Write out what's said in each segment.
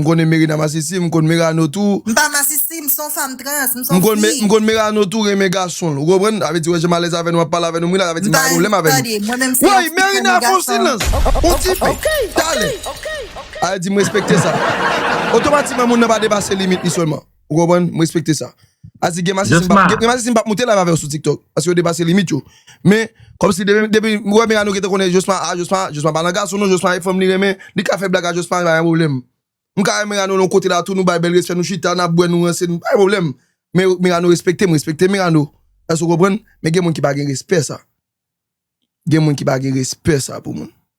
M konnen Merina masisi, m konn Merano tou. M pa masisi, m son fanm trans, m son fi. M konn Merano tou renmen gason l. Ou konprann? Sa vle di wè jan m alèz avè nou, m ap pale avè nou, m ri l avè ti m pa renmen ou lè m avè nou. Woy Merina fon silans, on ti pe, talè. Ayè di m respekte sa. Otomatikman moun nan pa depase limit li sèlman. Ou konprann? M respekte sa. A di gen masi si m pa, gen masi si m pa moute live avè w sou tiktok. Paske yo depase limit yo. Men, kòm si depi, depi, m wè Mirano ki te konnen Jospin, a Jospin, Jospin pa nan gason non, Jospin se fanm li renmen, li ka fè blag a Jospin, pa gen pwoblèm. M ka wè Mirano nan yon kote la tou, nou bay bèl respè, nou chita, n ap bwè, nou ranse, pa gen pwoblèm. Men Mirano respekte m, m respekte Mirano. Èske w konprann? Men gen moun ki pa gen respè sa. Gen moun ki pa gen respè sa pou moun.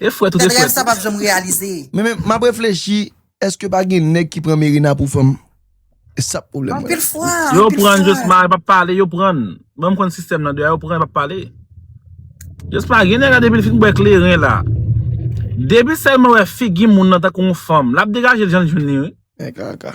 E fwet ou te fwet. Rèv sa pap janm reyalize. Men men map reflechi eske pa gen nèg ki pran Merina pou fanm. E sa pwoblèm mwen. Anpil fwa. Yo pran Josma yo pa pale yo pran. Banm konn sistèm nan deja yo pran yo pa pale. Josma gen nèg la depil fin bwè kleren la. Depi selman wè figi moun nan tankou yon fanm lap degajel janl jwenn li wi. Mè kaka.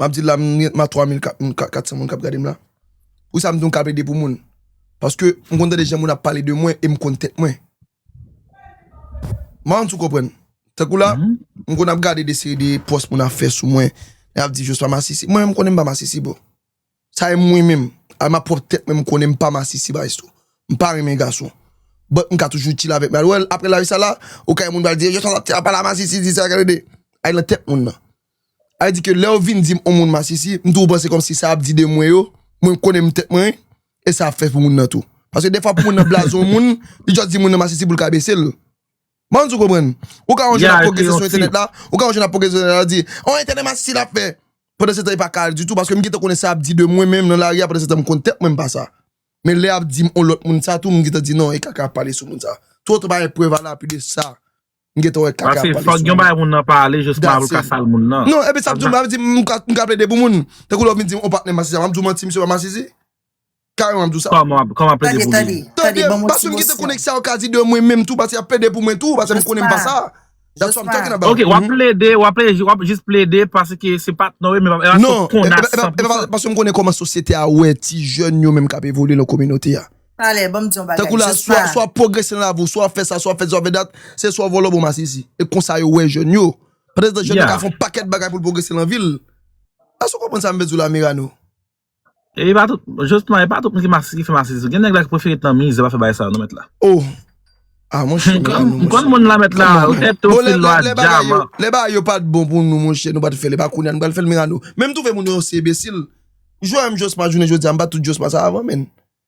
Map di la m gen 3 mil 400 moun kap gadem la Pou sa m di m ka plede pou moun Paske m konn tande jan moun ap pale de mwen e m konn tèt mwen M pa konn si w konprann Tankou la m konn ap gade de seri de pòs moun ap fè sou mwen Yap di Jospha masisi Mwen menm m konnen m pa masisi bro Sa e mwen menm, a ma pwòp tèt mwen m konnen m pa masisi maestro. M pa renmen gason. But m ka toujou chill avèk mwen. Well, aprè live sa la, okay moun pral di, yo sòt ap pale a masisi di sa kè de. Al nan tèt moun nan. Al di ke lèw vin dim on moun masisi, m toujou panse kòmsi sa ap di de mwen yo, mwen m konnen m tèt mwen, e sa ap fè pou moun nan tou. Paske defwa pou moun nan blaze on moun, li just di moun nan masisi poul ka besel. Ban m di w konprann. Ou ka wè yon jèn ap pwogrese sou entènèt la, ou ka wè yon jèn ap pwogrese sou entènèt la, l di, oh entènèt masisi l ap fè. Pandan setan li pa ka al ditou paske m gentan konnen sa y ap di de mwen menm nan lari a pandan setan m konn tèt mwen m pa sa. Men lè y ap di m yon lòt moun sa tou m gentan di non e kaka y ap pale sou moun sa. Twò longtan pa gen prèv alapi de sa m gentan wè kaka y ap pale sou moun. Paske fòk gen yon bagay moun nan pale jousman pou l ka sal moun nan. Non epi sa m di w m ka plede pou moun. Tankou lè w vin di m yon patnè masisi a, m ap di w manti misye pa masisi? Kareman map diw sa. Koman ap koman ap plede pou li. Tande tande paske mgite konek sa yo ka di de mwen menm tou paske yap plede pou mwen tou paske mkonnen mpa sa. That's why I'm talking about. Ok wap plede wap plede wap jis plede paske se pat non wi menm epa se konas san pou sa. Paske mkonnen koman sosyete a wè ti jèn yo menm kap evolye nan kominote a. Talè banm diyon bagay. Tankou la swa swa wap pwogrese nan lavi w swa wap fè sa swa wap fè sa swa wap fè dat se swa vòlò bon masisi e konsa yo wè jèn yo. Pandan se tan jèn nan ka fon pakèt bagay poul pwogrese nan vil. Èske w konprann sa mvle diw la Mirano? E pa tout, Jospin e pa tout moun ki masi ki fè masi tou, gen nèg la ki prefere t nan mizè pa fè bagay sa yo non mèt la. Oh ah monchè men anou monchè. M konn moun la mèt la, ou tèt te osi lwa dyaman. Lè bagay yo pat bon pou nou monchè nou pat fèl epa kounya nou pral fèl men anou. Menm twouve moun yo se ebesil. Jwè menm Jospin jounen jodia m bat tout Jospin sa avan menn.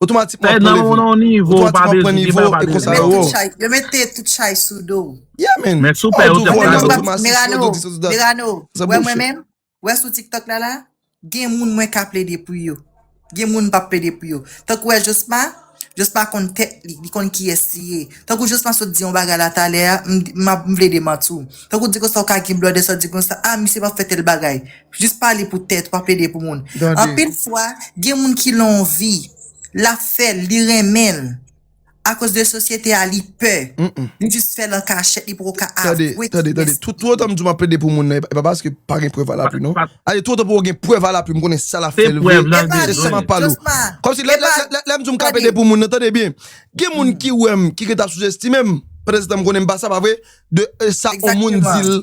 Otomatikman pran level. Otomatikman pran nivo e konsa yo wo. Yo mete tout chay sou do w. Yeah man. Men soupè yo te pran do. Merano, Merano, wè mwen menm? Wè sou tiktok la la? Gen moun mwen ka plede pou yo. Gen moun m pa p plede pou yo. Tankou wè Josma, Josma konn tèt li. Li konn kiyès li ye. Tankou Josma sot di yon bagay la talè a, m plede manti w. Tankou di konsa w ka gen blòdè sa w di konsa, ah misye pa p fè tèl bagay. Jis pa li pou tèt ou, pa plede pou moun. Anpil fwa, gen moun ki lan yon vi, l ap fè l, li renmen l, akoz de sosyete a li pè, li jis fè l an kachèt, li poko ka avwe ki gen sida. Tande, tout otan m di w m ap plede pou moun nan, e pa paske pa gen prèv alapui non. Tande, tout otan pou yo gen prèv alapui, m konnen sa l ap fè l vre, se sa m ap pale w. Kòmsi, lè m di w m ka plede pou moun nan, tande byen, gen moun ki wè m, ki gentan ap souzestime m, pandansetan m konnen m pa sa, pa vre? De sa yon moun di l,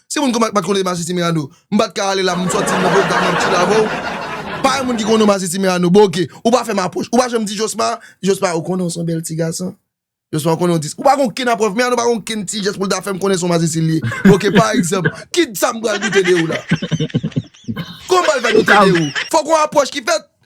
Si moun kon pat konnen Masisi Merano, m pat ka ale la pou m sòti m voye gade yon ti love ou. Pa gen moun ki konnen w Masisi Merano boo ok. Ou pa fè m apwòch. Ou pa janm di Josma, Josma ou konnen w se yon bèl ti gason? Josma ou konnen w di Ou pa gen okenn aprèv, Merano pa gen okenn ti jès pou l ta fè m konnen se yon Masisi l ye. Ok pa egzanp, kit sa m pral doute de ou la? Kòman m pral fè doute de ou? Fòk yon apwòch ki fèt.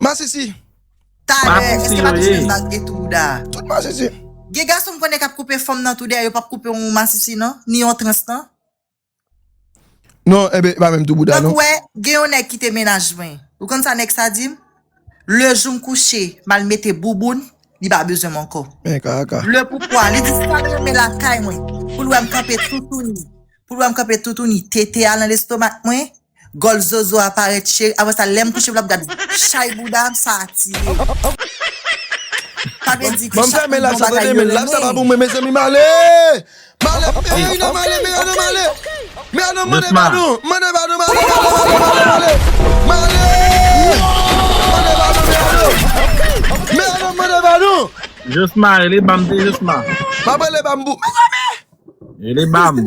Masisi. Talè eske pa touche baz gen tou bouda. Tout masisi. Gen gason m konnen kap koupe fanm nan tou dèyè yo pap koupe yon masisi nan ni yon trans nan. Non enben e pa menm tou bouda non. Tankou wè gen yon nèg kite mennaj mwen ou konn sa nèg sa dim lejou m kouche mal mete bouboun li pa bezwen m ankò. Men kaka. Le poukwa li di sal renmen lakay mwen poul wèm kanpe toutouni poul wèm kanpe toutouni tete a nan lestomak mwen Gòl zozo a parèt cheri apre sa lèm kouche m lap gad chay bouda m sa atire sa vle di ke chak moun gon bagay yo renmen.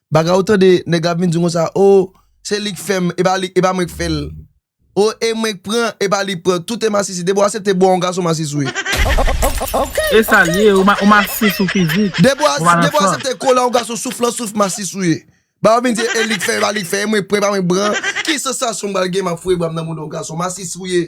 Bagay ou tande nèg la ap vin di w konsa oh se li k fè m e pa mwen k fè l oh e mwen k pran e pa li k pran tout e masisi depi w asepte bwa yon gason masis ou ye. E sa l ye ou masis ou fizik ou pa nan san. Depi w asepte kola yon gason souf lan souf masis ou ye. Bagay ou vin di e li k fè e pa li k fè e mwen k pran e pa mwen k pran ki sansasyon m pral gen m ap foure bra m nan mouda yon gason masis ou ye.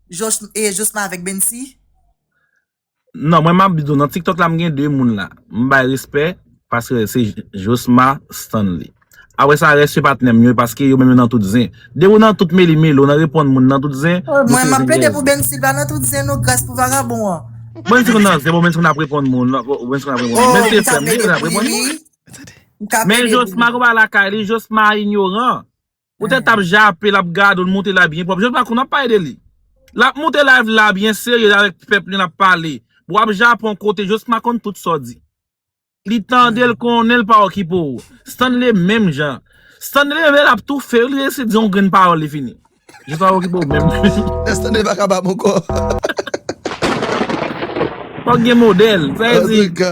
Josma avèk Bensy. Non mwen map di w nan tiktok la m gen 2 moun la m bay respè paske se josma stanley apre sa rès yo patnè m yo paske yo menm yo nan tout zen depi w nan tout meli meli w nan reponn moun nan tout zen ou se zenyèz mwen map plede pou Bensy l pa nan tout zen non gras pou vagabon an. Bensy konn nan zen bon Bensy konn ap reponn moun Bensy konn ap reponn moun Bensy frè m li konn ap reponn moun men josma konpa lakay li josma inyoran Ou tèt ap jape lap gade w l moute la byen pwòp jan l pa konn ap pale de li. Lap moute live la byen serye avèk pèp li lap pale. Bwa ap jape yon kote Josma konn tout sa w di. Li tande l konnen l pa okipe w. Stanley menm jan. Stanley leve lap toufe w li resi di yon grenn pawòl li fini. Josma pa okipe w menm. Lè Stanley pa kapab ankò. Fòk gen modèl. Sa vle di.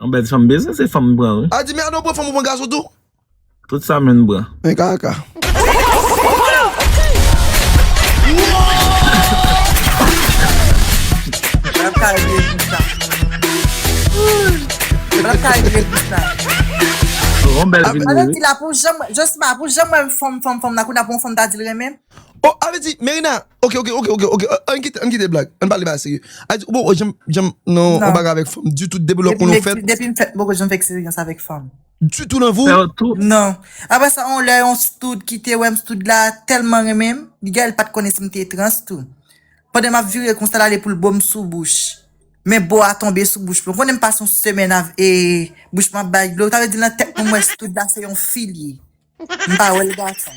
Yon bèl fanm bezwen se fanm pran wi. Adi men Ardo pran fanm ou pran gason tou. Tout sa menn pran. Men kaka. Oh a vle di Merina ok ok ok ok ok ann kite ann kite blag ann pale bagay serye a di ou poko janm janm nan yon bagay avèk fanm ditou depi lè konnenw fèt depi m fèt m poko janm fè eksperyans avèk fanm ditou nan vi w nan aprè sa yon lè yon stud ki te wèm stud la tèlman renmenm li gè li pat konnen si m te trans tou pandan map vire konsa l ale pou l bo m sou bouch men bo a tonbe sou bouch mwen ou konnen m pase yon semèn avk bouch mwen ap bay dlo sa vle di nan tèt mwen m wè stud la se yon fi l ye. M pa wèl gason.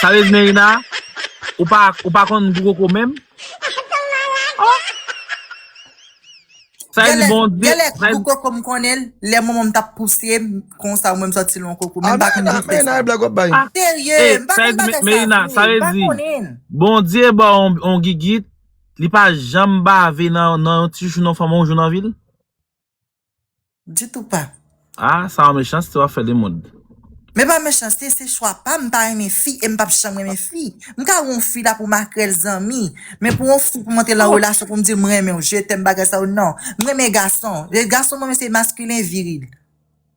Sa vle di Merina ou pa ou pa konn gou koko menm? Oh! Sa vle di Gèlè, Bondye gèlè sa gou koko m konnen l lè manman m t ap pouse m konsa ou menm sòti lwen koko men m pa konn gou fè sa. Ah Serye, eh m pa sa vle konn di bagay sa Merina sa vre, vle m pa di konnen l. Bondye ba w on gigit li pa janm bave nan nan yon ti chouchou nan fanm ou jou nan vi l? Ditou pa. Ah sa yon mechanste wap fè de mod. Men pa mechanste se chwa pam mpa renmen fi em pap janm renmen fi mka wè yon fi la pou makrèl zanmi men pou yon fi pou monte lan relasyon poum dil mrenmenw je t'aime bagay sa yo nan mrenmen gason e gason mrenmen se maskilen viril.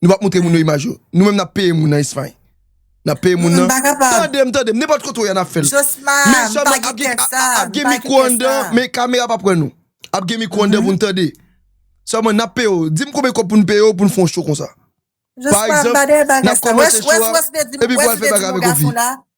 Nou pap moutre moun yo imaj yo. Nou menm nap peye moun nan Espagne. Nap peye moun nan. Tandem tandem nenpòt kote ou ye nap fèl. Mechan nan ap gen ap gen mikro anndan men kamera pap wè nou. Ap gen mikro anndan pou nou tande. Sèlman nap peye ou. Dim konbyen kòb pou nou peye ou pou nou fè yon show konsa. Par exemple nap kòmanse show a epi pou al fè bagay avèk ou vini.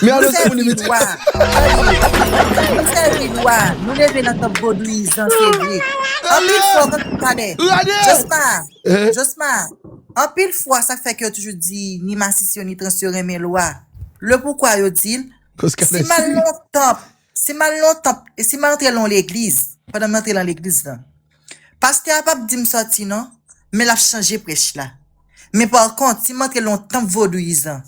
Men Nou alòs se pou li sèvi met lwa. Tande, nou sèvi lwa. Nou leve nan tanp vodouyizan, se vre. Anpil fwa, Rane! kont, tande, Rane! Josma, Eh? Josma, anpil fwa sa k fè ke yo toujou di ni masisi yo ni trans yo renmen lwa. Lepoukwa yo di l, Kòz kanè si mal siri. nan yon tanp, Si m al nan yon tanp, e si m antre lan yon legliz, pandan m antre lan legliz lan, pastè a p ap di m sòti non, men l ap chanje prèch la. Men pa kont, si m antre lan yon tanp vodouyizan,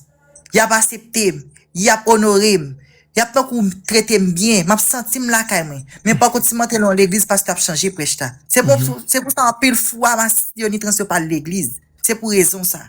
y ap asepte m, y ap onore m, y ap tankou trete m byen, m ap santi m lakay mwen. Men pa kont, si m antre lan yon legliz, pastè a ap chanje prèch la. Se pou sa anpil fwa mas yonitranse yo pa al legliz. Se pou rezon sa.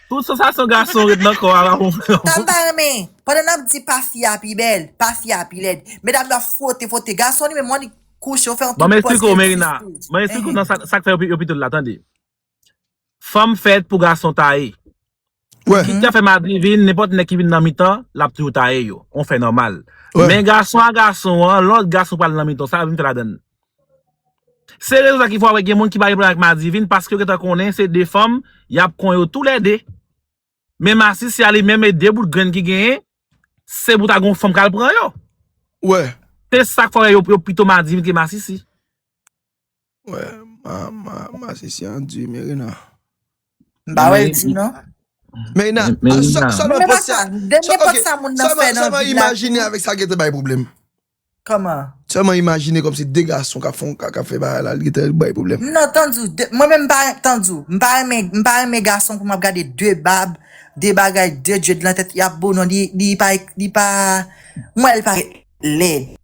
Tout sansasyon gason ret nan kò a la pou mwen. Sa m pa renmen, pandan n ap di pa fi a pi bèl, pa fi a pi lèd, medam yo ap fwote fwote gason li menm wan li kouche yo fè yon Bon m tout pòz esplike w ke li Merina, sou mwen esplike w nan sa sa k fè yo pito l la tande. Fanm fèt pou gason taye. Wè. Kit ya fè madivin, nenpòt nèg ki vin nan mitan, l ap toujou taye yo. On fè nòmal. Wè. Men gason a gason an, lòt gason pral nan mitan w, sa yo vin fè ladan l? Se rezon sa ki fè w ap wè gen moun ki pa gen pwoblèm ak Madivin paske yo gentan konnen se 2 fanm y ap kon yo tou lè 2. Men Masisi a li menm e 2 bout grenn ki genyen se pou ta gen yon fanm k al pran yo. Wè. Se sa k fè w wè yo pito Madivin ke Masisi. Wè, Masisi an di Merena. M pa wè l di non. Meïna, sèlman pòs sa, ok, sèlman imajine avèk sa gète bay pwoblèm. Kòman? Sèlman imajine kòm se 2 gason kap fon, kap fè bagay la, li gète bay pwoblèm. M nan tande ou, mwen menm m pa, tande ou, m pa renmen, m pa renmen gason pou map gade 2 bab, 2 bagay, 2 djed lan tèt, yap bo non, li pa, li pa, m wè l parèt lèd.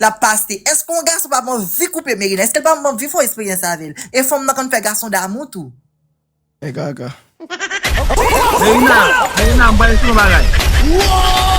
lap pase eske yon gason pap anvi koupe meri nan eskel pap anvi fon esperyans avel e fanm nan konn fè gason damou tou. Mè gaga. Merina, Merina m pral eksplike yon bagay.